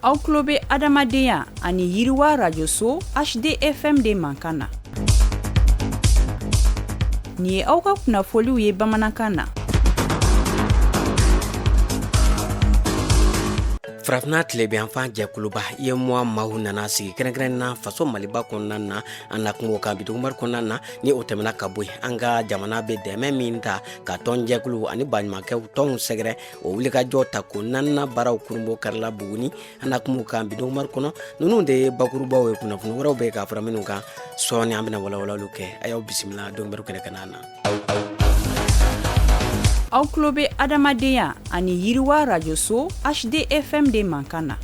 aw tulo bɛ adamadenya ani yiriwa rajoso hdfm de mankan na nin ye aw ka kunnafoniw ye bamanankan na farafinna tilebinyanfan jɛkuluba uemoa maaw nana sigi kɛrɛnkɛrɛn na faso maliba kɔnɔna na an na kuma o kan bi donkibaru kɔnɔna na ni o tɛmɛna ka bɔ yen an ka jamana bɛ dɛmɛ min ta ka tɔnjɛkulu ani baɲumankɛw tɔnw sɛgɛrɛ o wulikajɔ tako naaninan baaraw kurunbonkarila buguni an na kuma o kan bi donkibaru kɔnɔ ninnu de ye bakurubaw ye kunnafoni wɛrɛw bɛ ka fara minnu kan sɔɔni an bɛna walawalaliw kɛ a y'aw bisimila donkibaru kɛnɛ kanna na aw tulo bɛ adamadenya ani yiriwa rajoso hdfm de mankan na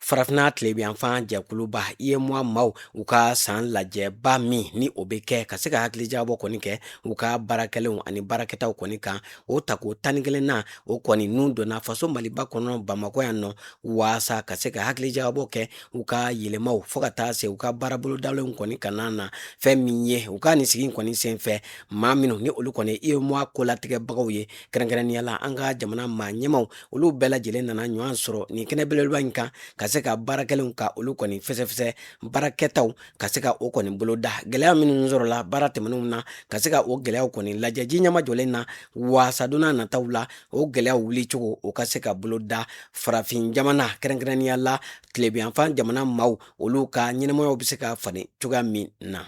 farafinna tilebiyanfan jɛkuluba uemoa maaw u ka san lajɛba min ni o bɛ kɛ ka se ka hakilijakabɔ kɔni kɛ u ka baarakɛlenw ani baarakɛtaw kɔni kan o tako tan ni kelen na o kɔni ninnu donna faso maliba kɔnɔ bamakɔ yan nɔ waasa ka se ka hakilijakabɔ kɛ u ka yɛlɛmaw fo ka taa se u ka baarabolodalenw kɔni kanna na fɛn min ye u ka nin sigi kɔni sen fɛ maa minnu ni olu kɔni uemoa kolatigɛbagaw ye kɛrɛnkɛrɛnnenya la an ka jamana maa ɲɛmaw olu bɛɛ lajɛlen nana ɲɔgɔn sɔrɔ nin kɛnɛ belebeleba in kan ka se ka baara kɛlenw ka olu kɔni fɛsɛfɛsɛ baara kɛtaw ka se ka o kɔni bolo da gɛlɛya minnu sɔrɔla baara tɛmɛnenw na ka se ka o gɛlɛyaw kɔni lajɛ ji nɛmajɔlen na waasa don nataw la o gɛlɛyaw wuli cogo o ka se ka bolo da farafin jamana kɛrɛnkɛrɛnnenya la tilebiyanfan jamana maaw olu ka ɲɛnamayaw bɛ se ka falen cogoya min na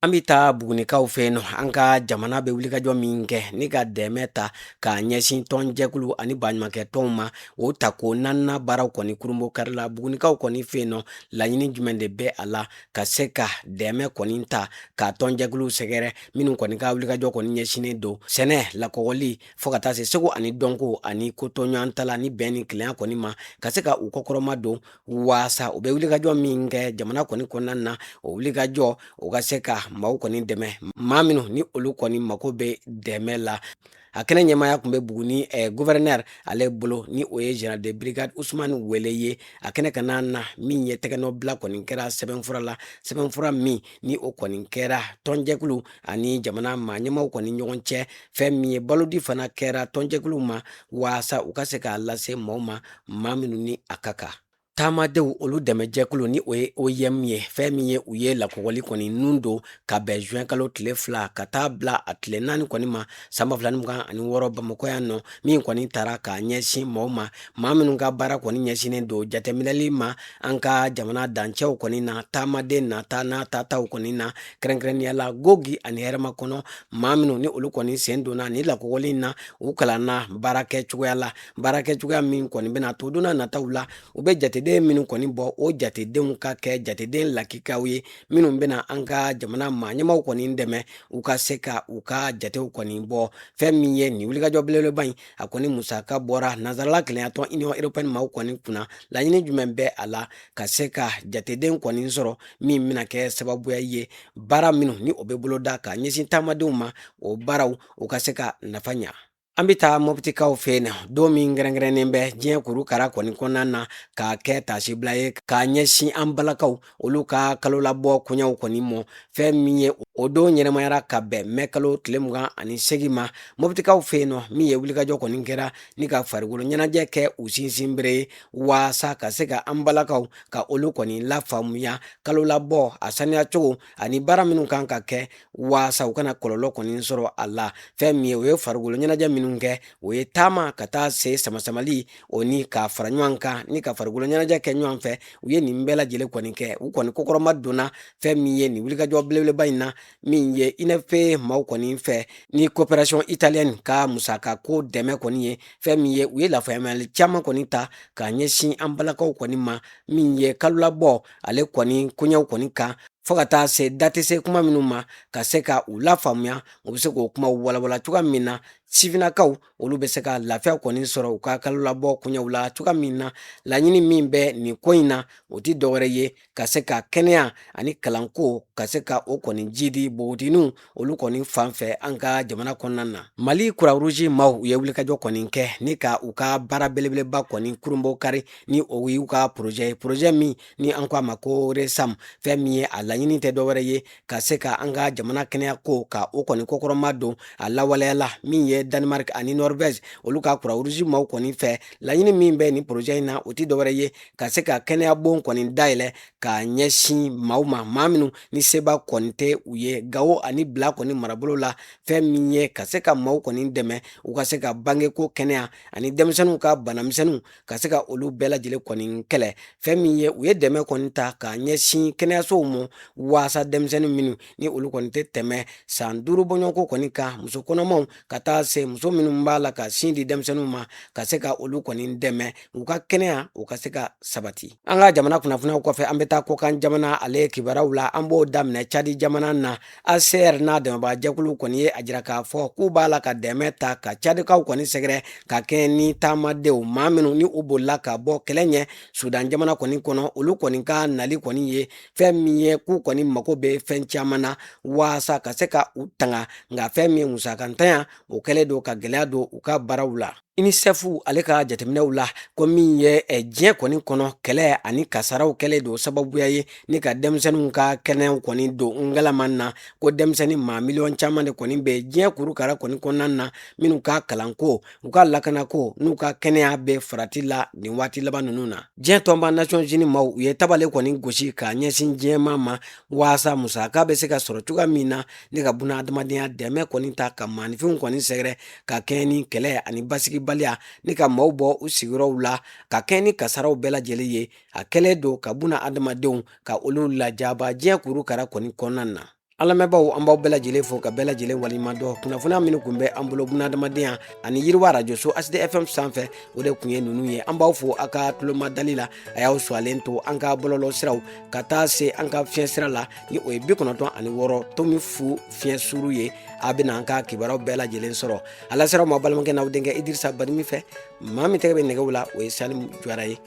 an bɛ taa bugunikaw fɛ yen nɔ an ka jamana bɛ wulikajɔ min kɛ ni ka dɛmɛ ta k'a ɲɛsin tɔnjɛkulu ani baɲumankɛ tɔnw ma o tako naaninan baaraw kɔni kurunbonkarila bugunikaw kɔni fɛ yen nɔ laɲini jumɛn de bɛ a la ka se ka dɛmɛ kɔni ta ka tɔnjɛkulu sɛgɛrɛ minnu kɔni ka wulikajɔ kɔni ɲɛsinnen don sɛnɛ lakɔgɔli fo ka taa se seko ani dɔnko ani kotoɲɔgɔntala ni bɛn ni kelenya kɔni ma ka se ka u kɔkɔrɔmadon waasa u bɛ wulikajɔ min kɛ jamana kɔni kɔnɔna na o wulikajɔ o ka se ka maaw kɔni dɛmɛ maa minnu ni olu kɔni mako bɛ dɛmɛ la a kɛnɛ ɲɛmaaya tun bɛ buguni eh, guvɛrɛnɛri ale bolo ni o ye general de brigade usumani wele ye a kɛnɛ kanna na min ye tɛgɛnɔbila kɔni kɛra sɛbɛnfura la sɛbɛnfura min ni o kɔni kɛra tɔnjɛkulu ani jamana maaɲɛmaw kɔni ɲɔgɔn cɛ fɛn min ye balodi fana kɛra tɔnjɛkulu ma waasa u ka se k'a lase maaw ma maa minnu ni a ka kan taamadenw olu dɛmɛjɛkulu ni o ye OIM ye fɛn min ye u ye lakɔgɔli kɔni nun don ka bɛn juin kalo tile fila ka taa bila a tile naani kɔni ma san ba fila ni mugan ani wɔɔrɔ bamakɔ yan nɔ min kɔni tara k'a ɲɛsin maaw ma maa minnu ka baara kɔni ɲɛsinnen don jateminɛli ma an ka jamana dancɛw kɔni na taamaden nata n'a tataw kɔni na kɛrɛnkɛrɛnnenya la gogi ani hɛrɛmakɔnɔ maa minnu ni olu kɔni sen donna ni lakɔgɔli in na u kalanna baara kɛ cogoya la baara kɛ cogoya min kɔni bɛna to don nataw la u bɛ jateden minnu kɔni bɔ o jatedenw ka kɛ jateden lakikaw ye minnu bɛna an ka jamana maa ɲɛmaw kɔni dɛmɛ u ka se ka u ka jatew kɔni bɔ fɛn min ye nin wulikajɔ belebeleba in a kɔni musaka bɔra nansarala kelenyatɔn union européenne maaw kɔni kunna laɲini jumɛn bɛ a la ka se ka jateden kɔni sɔrɔ min bɛna kɛ sababuya ye baara minnu ni o bɛ boloda ka ɲɛsin taamadenw ma o baaraw u ka se ka nafa ɲa An bɛ taa mɔpitikaw fɛ yen nɔ don min kɛrɛnkɛrɛnnen bɛ diɲɛ kurukara kɔni kɔnɔna na k'a kɛ taasibila ye k'a ɲɛsin an balakaw olu ka kalo labɔ koɲɛw kɔni mɔ fɛn min ye o don ɲɛnamayara ka bɛn mɛ kalo tile mugan ani segin ma mɔpitikaw fɛ yen nɔ min ye wulikajɔ kɔni kɛra ni ka farikolo ɲɛnajɛ kɛ u sinsinbere ye waasa ka se ka an balakaw ka olu kɔni lafaamuya kalo labɔ a saniya cogo ani baara minnu kan ka kɛ waasa u kana kɔlɔlɔ kɔni sɔrɔ a la fɛn min ye o ye farikolo ɲɛnajɛ minnu kɛ o ye taama ka taa se samasamali o ni ka fara ɲɔgɔn kan ni ka farikolo ɲɛnajɛ kɛ ɲɔgɔn fɛ u ye nin bɛɛ lajɛlen kɔni kɛ u kɔni kɔkɔrɔmadonna fɛn min ye nin wulikajɔ belebeleba in na min ye unfpa maaw kɔni fɛ ni coopération italienne ka musaka ko dɛmɛ kɔni ye fɛn min ye u ye lafaamuyali caman kɔni ta k'a ɲɛsin an balakaw kɔni ma min ye kalolabɔ ale kɔni koɲɛw kɔni kan fo ka taa se da tɛ se kuma minnu ma ka se ka u lafaamuya u bɛ se k'o kuma walanwalan cogoya min na sifinnakaw olu bɛ se ka lafiya kɔni sɔrɔ u ka kalo labɔ koɲɛw la cogoya min na laɲini min bɛ nin ko in na o tɛ dɔwɛrɛ ye ka se ka kɛnɛya ani kalanko ka se ka o kɔni jidi npogotigininw olu kɔni fan fɛ an ka jamana kɔnɔna na mali croix rouge maaw u ye wulikajɔ kɔni kɛ ni ka u ka baara belebeleba kɔni kurunbonkari ni o y'u ka porozɛ ye porozɛ min ni an ko a ma ko resam fɛn min ye a laɲini tɛ dɔwɛrɛ ye ka se ka an ka jamana kɛnɛya ko ka o kɔni kɔkɔrɔmadon a lawaleyala min ye danemark ani norvège olu ka croix rouge maaw kɔni fɛ laɲini min bɛ nin porozɛ in na o tɛ dɔwɛrɛ ye ka se ka kɛnɛya bon kɔni dayɛlɛ k'a ɲɛsin maaw ma maa minnu ni seba kɔni tɛ u ye gawo ani bila kɔni marabolo la fɛn min ye ka se ka maaw kɔni dɛmɛ u ka se ka bangeko kɛnɛya ani denmisɛnninw ka banamisɛnninw ka se ka olu bɛɛ lajɛlen kɔni kɛlɛ fɛn min ye u ye dɛmɛ kɔni ta k'a ɲɛsin kɛnɛyasow ma waasa denmisɛnnin minnu ni olu kɔni tɛ tɛmɛ san duuru bɔɲɔgɔnko kɔni kan muso kɔnɔmaw ka taa se muso minnu b'a la ka sin di denmisɛnninw ma ka se ka olu kɔni dɛmɛ u ka kɛnɛya u ka se ka sabati an ka jamana kunnafoniw kɔfɛ an bɛ taa kɔkan jamana ale kibaruyaw la an b'o daminɛ cadi jamana na hcr n'a dɛmɛbaajɛkulu kɔni ye a jira k'a fɔ k'u b'a la ka dɛmɛ ta ka cadikaw kɔni sɛgɛrɛ ka kɛɲɛ ni taamadenw maa minnu ni u bolila ka bɔ kɛlɛ ɲɛ sudan jamana kɔni kɔnɔ olu kɔni ka nali kɔni ye fɛn min ye k'u kɔni mago bɛ fɛn caman na waasa ka se ka u tanga nka fɛn min ye musakantanya o kɛlen don ka gɛlɛya don u ka baaraw la unicef ale ka jateminɛw la ko min ye eh, diɲɛ kɔni kɔnɔ kɛlɛ ani kasaraw kɛlen don sababuya ye ni ka denmisɛnninw ka kɛnɛyaw kɔni don ngalaman na ko denmisɛnnin maa miliyɔn caman de kɔni bɛ diɲɛ kurukara kɔni kɔnɔna na minnu ka kalanko u ka lakanako n'u ka kɛnɛya bɛ farati la nin waati laban ninnu na diɲɛ tɔnba nations unies maaw u ye tabale kɔni gosi ka ɲɛsin diɲɛmaa ma waasa musaka bɛ se ka sɔrɔ cogoya min na ni ka buna adamadenya dɛmɛ kɔni ta ka maaninfinw kɔni sɛgɛrɛ ka kɛɲɛ ni kɛlɛ ani basigibaliya ni ka maaw bɔ u sigiyɔrɔw la ka kɛɲɛ ni kasaraw bɛɛ lajɛlen ye a kɛlen don ka buna adamadenw ka olu lajaba diɲɛ kurukara kɔni kɔnɔna na An lamɛnbaaw an b'aw bɛɛ lajɛlen fo ka bɛɛ lajɛlen waliɲumandɔn kunnafoniya minnu kun bɛ an bolo buna adamadenya ani yiriwa radio so HD FM sanfɛ o de kun ye ninnu ye an b'aw fo a ka tulomadali la a y'aw suwalen to an ka bɔlɔlɔ siraw ka taa se an ka fiɲɛ sira la ni o ye bi kɔnɔntɔn ani wɔɔrɔ tomi fu fiɲɛ suuru ye a bɛna an ka kibaruyaw bɛɛ lajɛlen sɔrɔ alasira ma balimakɛ n'aw denkɛ Idirisa Badimi fɛ maa min tɛgɛ bɛ nɛgɛw la o ye Salim Jara ye